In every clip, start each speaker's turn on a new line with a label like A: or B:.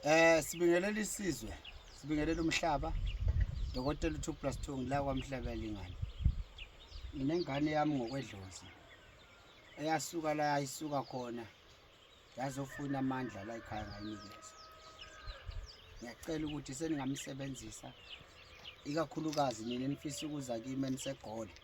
A: Eh sibingelela isizwe, sibingelela umhlaba. Dokotela 2 plus 2 ngila kwamhlaba lingane. Nginengane yami ngokwedlozi. Eyasuka la ayisuka khona. Yazofuna amandla la ekhaya ngayinikeza. Ngiyacela ukuthi seningamsebenzisa ikakhulukazi nina nifisa ukuza kimi enisegole.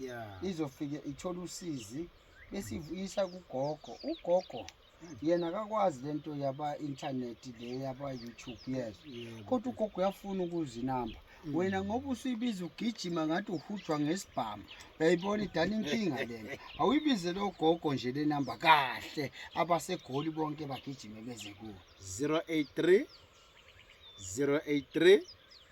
A: yeah. izofike
B: ithole
A: usizi besivuyisa kugogo ugogo yena akakwazi le nto yaba-intanethi le yaba-youtube yes kodwa ugogo uyafuna ukuzinamba Mm. wena ngoba usuyibiza ugijima ngathi uhujwa ngesibhamu uyayibona idala inkinga lena awuyibize lo gogo nje le namba kahle abasegoli bonke bagijime beze kuwo 083
B: 083